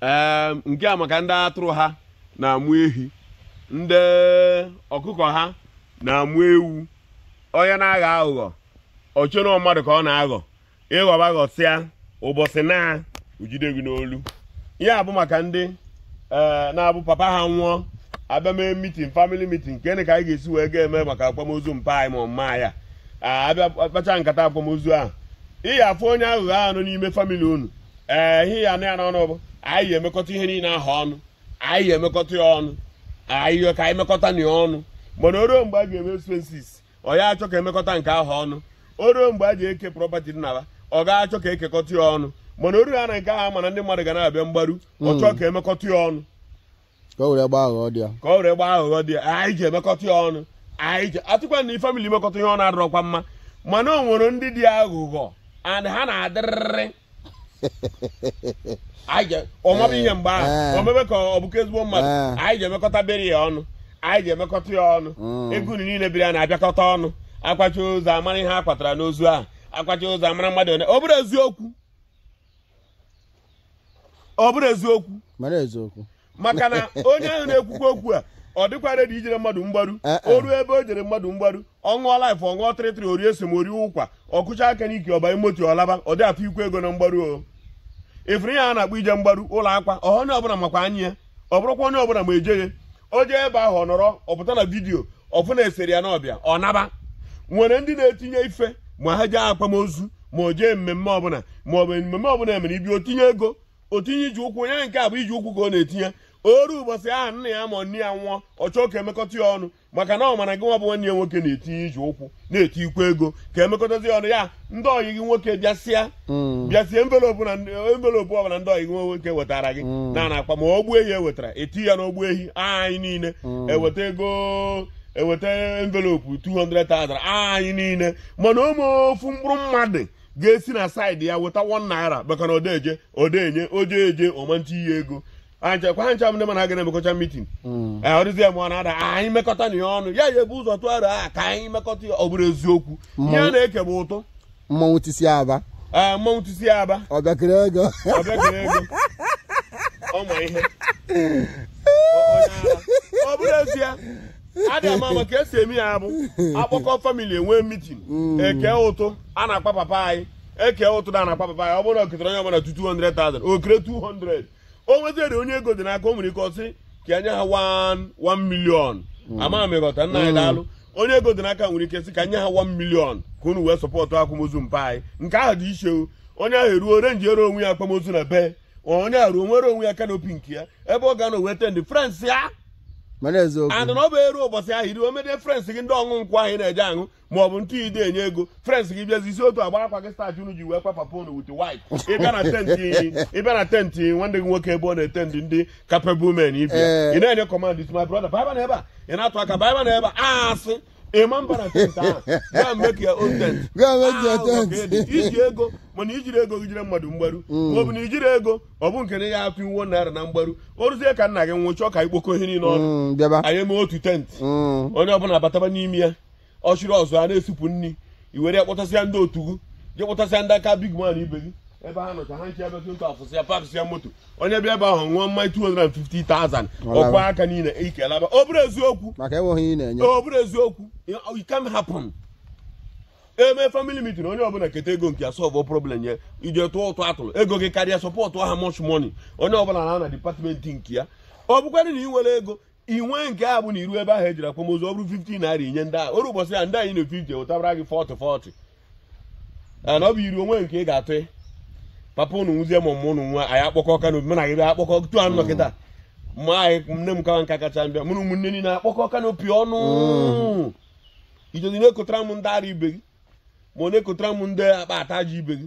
ee nke a maka ndị atụrụ ha na-amụ ehi ndị ọkụkọ ha na-amụ ewu onye na-aghọ aghụghọ o chere na mmadụ ka ọ na-aghọ ị ghọba ghọsịa ụbọchị naa o jide gị n'olu ihe a bụ maka ndị ee na-abụ papa ha nwụọ a bịa mee mitin famili mitin nke ka anyị ga-esi wee ga-eme maka akwamozu mpa anyị ma ọ mama anyị a bịa kpacha nkata akwamozu ahụ ị ya-afụ onye aghụghọ ahụ nọ n'ime famili unu ee ihe ya-anọ ya n'ọnụ bụ anyị ya-emekọta ihe niile ahụ ọnụ anyị ya-emekọta ya ọnụ anyị ya ka anyị mekọtanụ ya ọnụ mana o ruo mgbe a ga-eme expenses ọ ya-achọ ka e mekọta nke ahụ ọnụ o ruo mgbe a ji eke property dị n'Aba ọ ga-achọ ka e kekọta ya ọnụ mana o ruo ya na nke ahụ ọ ma na ndị mmadụ ga na-abịa mgbaru ọ chọọ ka e mekọta ya ọnụ ka o were gbaa aghụghọ dị ya ka o were gbaa aghụghọ dị ya anyị ji emekọta ya ọnụ anyị ji atụkwa na famili imekọta ihe ọnụ adịrọkwa mma mana o nwere ndị dị aghụghọ and ha na-adịrịrị ọ maba ihe mgbe ahụ Eh. o mebe ka ọ bụkwa ezigbo mmadụ Eh. anyị ji emekọta burial ọnụ anyị ji emekọta ya ọnụ Mm. ego unu niile burial na-abịakọta ọnụ a kwacha ozu a mara ihe a kwatara n'ozu ahụ a kwacha ozu a mara mmadụ one ọ bụrụ eziokwu ọ bụrụ eziokwu mara eziokwu maka na onye ahụ na-ekwukwa okwu a ọ dịkwa redi ijere mmadụ mgbaru eh, eh. o ruo ebe o jere mmadụ mgbaru ọ ṅụọ laif ọ ṅụọ trịtrị o rie esem o rie ụkwa ọ kụcha aka n'ike ọ ba moto ọ laba ọ dị atụkwu ego na mgbaru o ị fụrụ ihe a na-akpọ ije mgbaru ụlọ akwa onye ọbụla makwa anya ya ọ bụrụkwa onye ọbụla ma ejeghị o jee ebe ahụ ọ nọrọ ọ pụta na vidiyo ọ fụ na e sere ya na ọ bịa ọ naba nwere ndị na-etinye ife ma ha jee akwamozu ma o jee mmemme ọbụla ma ọ bụ mmemme ọbụla e mere ibi o tinye ego o tinye ije ụkwụ onye nke a bụ ije ụkwụ ka ọ na-etinye o ruo ụbọchị ahụ nna ya ma nne ya nwụọ ọ chọọ ka e mekọta ya ọnụ maka na ọ ma na gị nwa bụ nwanne ya nwoke na-etinye ije ụkwụ na-etikwu ego ka e mekọtazie ọnụ ya ndị ọyị gị nwoke bịasịa mm. bịasịa envelopu na envelopu ọbụla ndị ọyị gị nwoke wetara gị mm. na na akpa ma ogbe ehi e wetara e tie ya n'ogbe ehi anyị niile mm. e weta ego e weta envelopu 200,000 anyị niile mana o nwe ofu mkpụrụ mmadụ ga-esi na saịdị ya weta 1 naira maka na ọ dị eje ọ dị enye o jee eje ọ ma etinye ego anchekwa ancha m ndị ma na a ga na-emekọcha mitin hmm. eh, ọrụzi ya mụọ na-ada ah, anyị mekọtanụ ya ọnụ ya ya ebu ụzọ tụgharị a ah, ka anyị mekọta ya ọ bụrụ eziokwu ihe a na-eke bụ ụtụ mmanwụ tisi aba ee eh, mmanwụ tisi aba ọbịakịrị ego ọbịakịrị ego ọma ihe ọ bụrụ ezie adị ama ama ka e si eme ya bụ a kpọkọọ famili e nwee mitin hmm. e kee ụtụ a na-akwa papa anyị e kee ụtụ a na-akwa papa ya ọ bụrụ na o ketara onye ọbụla 200,000 o kere 200 o nwezere onye ego dị n'aka o nwere ike ọ sị ka e nye ha 1 million hmm. ama m ị ghọta nna anyị hmm. daalụ onye ego dị n'aka nwere ike sị ka e nye ha 1 million ka unu wee sọpọtụ akwamozu mpa anyị nke ahụ dị iche onye ahụ eruo arenjiere onwe ya akwamozu na be onye ahụ ruo nwere onwe ya kanopi nke ya ebe ọ ga-anọ wee tendị friends ya and na ọ bụ e ruo ụbọchị ahụ iri omede friends gị ndị ọṅụ nkwụ ahụ na-eje aṅụ ma ọ bụ ndị ị de enye ego friends gị bịazi yisi otu agba akwa gị starch unu ji wee kwa papa unu white white ị bịa na tenti ị bịa na tenti nwanne gị nwoke ebe ọ na-atendị ndị capable men ibe ya. Ee. ị na-enye command is my brother baba na ebe a ị na-atụ aka baba na ebe a a sị ị ma mba na tent ahụ gaa make your own tent Go and make your Ah, ụzọ tent. ka edi. i ji ego mana i jiri ego gị jere mmadụ mgbaru ma ọ bụ na i jiri ego ọ bụ nke na ya atụ iwu naira na mgbaru o ruzie ka nna gị nwụ chọọ ka i kpokọ ihe niile ọnụ Mm, bịaba anyị mee otu tent Mm. onye ọbụla bataba n'ime ya ọchịrị ọzụọ a na-esipụ nri i were ya kpọtasịa ndị otu gị je kpọtasịa ndị aka big man ibe gị ebe ha nọcha ha iche ebe ndị afụ sịa pakịsịa moto onye bịa ebe ahụ ṅụọ mmanya 250,000 ọ kụa aka niile ike laba ọ bụrụ eziokwu maka enweghị ihe ị na-enye ọ bụrụ eziokwu it can happen e mee family meeting onye ọbụla keta ego nke ya solve problem ya i je tụọ ụtụ a tụrụ ego gị karịa sọpọtụ ha much money onye ọbụla na na dipatmenti nke ya ọ bụkwarị na ị nwere ego i nwe nke a bụ na i ru ebe ahụ ejiri akwamozu ọ bụrụ 50 naira i nye ndị ahụ o ruo ụbọchị ya ndị e nyere 50 wetabara gị 40 40 na ọ bụ i ruo o nwee nke ị ga-atụ papa ụnụ nwụzie ma ụmụ ụnụ nwaanyị akpokọọ kanopi mana gị bịa akpokọta ọnụ nọkọta ma anyị nne m kawa nka kacha mbịa mụrụ ụmụnne niile akpokọọ kanopi ọnụ i jezi na-ekotara m ndị ara ibe gị ma ọ na-ekotara m ndị akpa ata ji ibe gị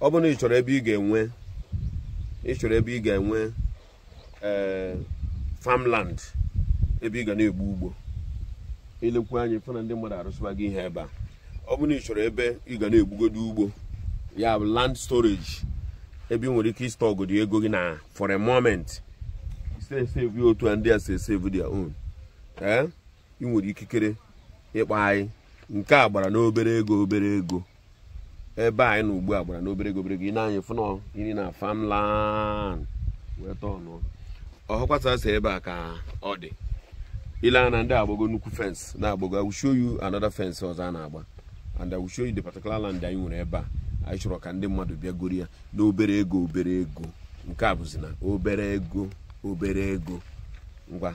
ọ bụrụ na ị chọrọ ebe ị ga-enwe ị chọrọ ebe ị ga-enwe eh, farmland ebe ị ga na-egbu ugbo e lekwu anya fụ na ndị mmadụ arụsịbago ihe ebe a ọ bụrụ na ị chọrọ ebe ị ga na-egbugodo ugbo ya bụ land storage ebe ị nwere ike ịstọgodi ego gị na for a moment save otu a ndị a si save their own ee eh? ị nwere ikikere ịkpọ anyị nke a gbara n'obere ego obere ego ebe anyị nọ ugbu a gbara n'obere ego obere ego ị nee anya fụ na iri na farmland wee tọọ nọ ọhụkwasa si ebe a ka ọ dị i lee anya na ndị a agbago nnukwu fensị na-agbago I will show you another fence ọzọ a na-agba and I will show you the particular land anyị nwere ebe a anyị chọrọ ka ndị mmadụ bịa goro ya n'obere ego obere ego nke a bụzi na obere ego obere ego ngwa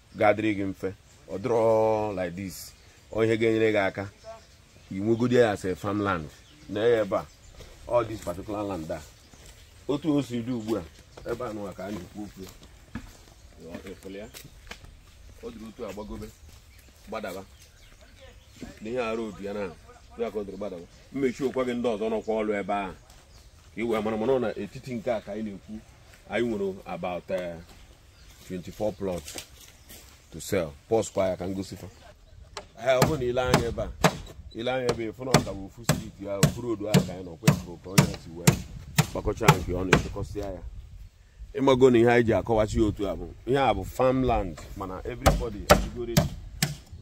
ga-adịrị gị mfe ọ dịrọ like this ọ ihe ga-enyere gị aka inwegodi ya as a farmland na ya ebe a all this particular land a otu o si dị ugbu a ebe a nụwa ka a na-ekwu okwu efele ya ọ dịrị otu a gbagobe gbadaba na ihe arụ obi ya na ya ka ọ dịrị gbadaba mmechi okwa gị ndị ọzọ nọkwa ọrụ ebe ahụ ka ị wee mara mana ọ n'etiti nke a ka anyị na-ekwu anyị nwere about eh, 24 plot to sell pause kwa ya ka m gosi fa ee ọ bụrụ na i lee anya ebe a i lee anya ebe ị fụ na ọ ka bụ ofu street ahụ ofu road ahụ ka anyị nọ kwefụrụ ka onye si wee gbakọcha nke ọ na-echekọsịa ya ị mago na ihe anyị ji akọwachi ya otu a bụ ihe a bụ farmland mana everybody ajụgoro echi.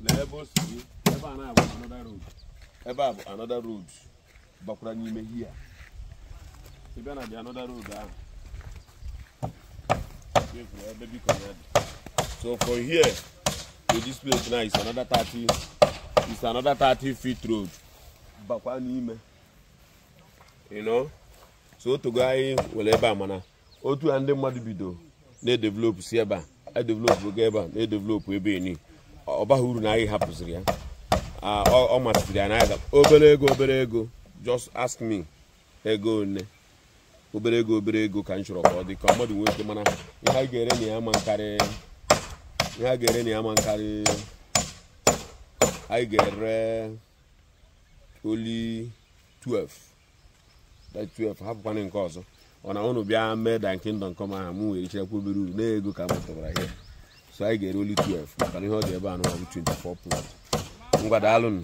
lee ebe o si dị, ebe a na-abụ another road ebe a bụ another road bakwara n'ime here ị bịa na dị another road ahụ chefuo ebe biko ya dị so from here to this place now is another 30 is another 30 feet road bakwa n'ime you know so o teego anyị were ebe a mana otu a ndị mmadụ bido na-edevelop si ebe a edevelop oge ebe a na-edevelop ebe eni ọ baghị uru na anyị hapụziri ya Ah, ọ ọ masịrị ya na-aga obere ego obere ego just ask me ego one obere ego obere ego ka m chọrọ ka ọ dị ka mmadụ nwee ike mana ihe anyị ga-ere na ya ma nkarị ihe a ga-ere na ya ma nkarị anyị ga-ere only 12 by 12 hapụkwanụ nke ọzọ ọ na ụnụ bịa mee thy kingdom come aha m were chịrịkwa obere uru n'ego ka m tụbara ihe so anyị ga-ere only 12 maka na ihe ọ dị ebe a nụwa bụ 24 plot ngwa daalụnụ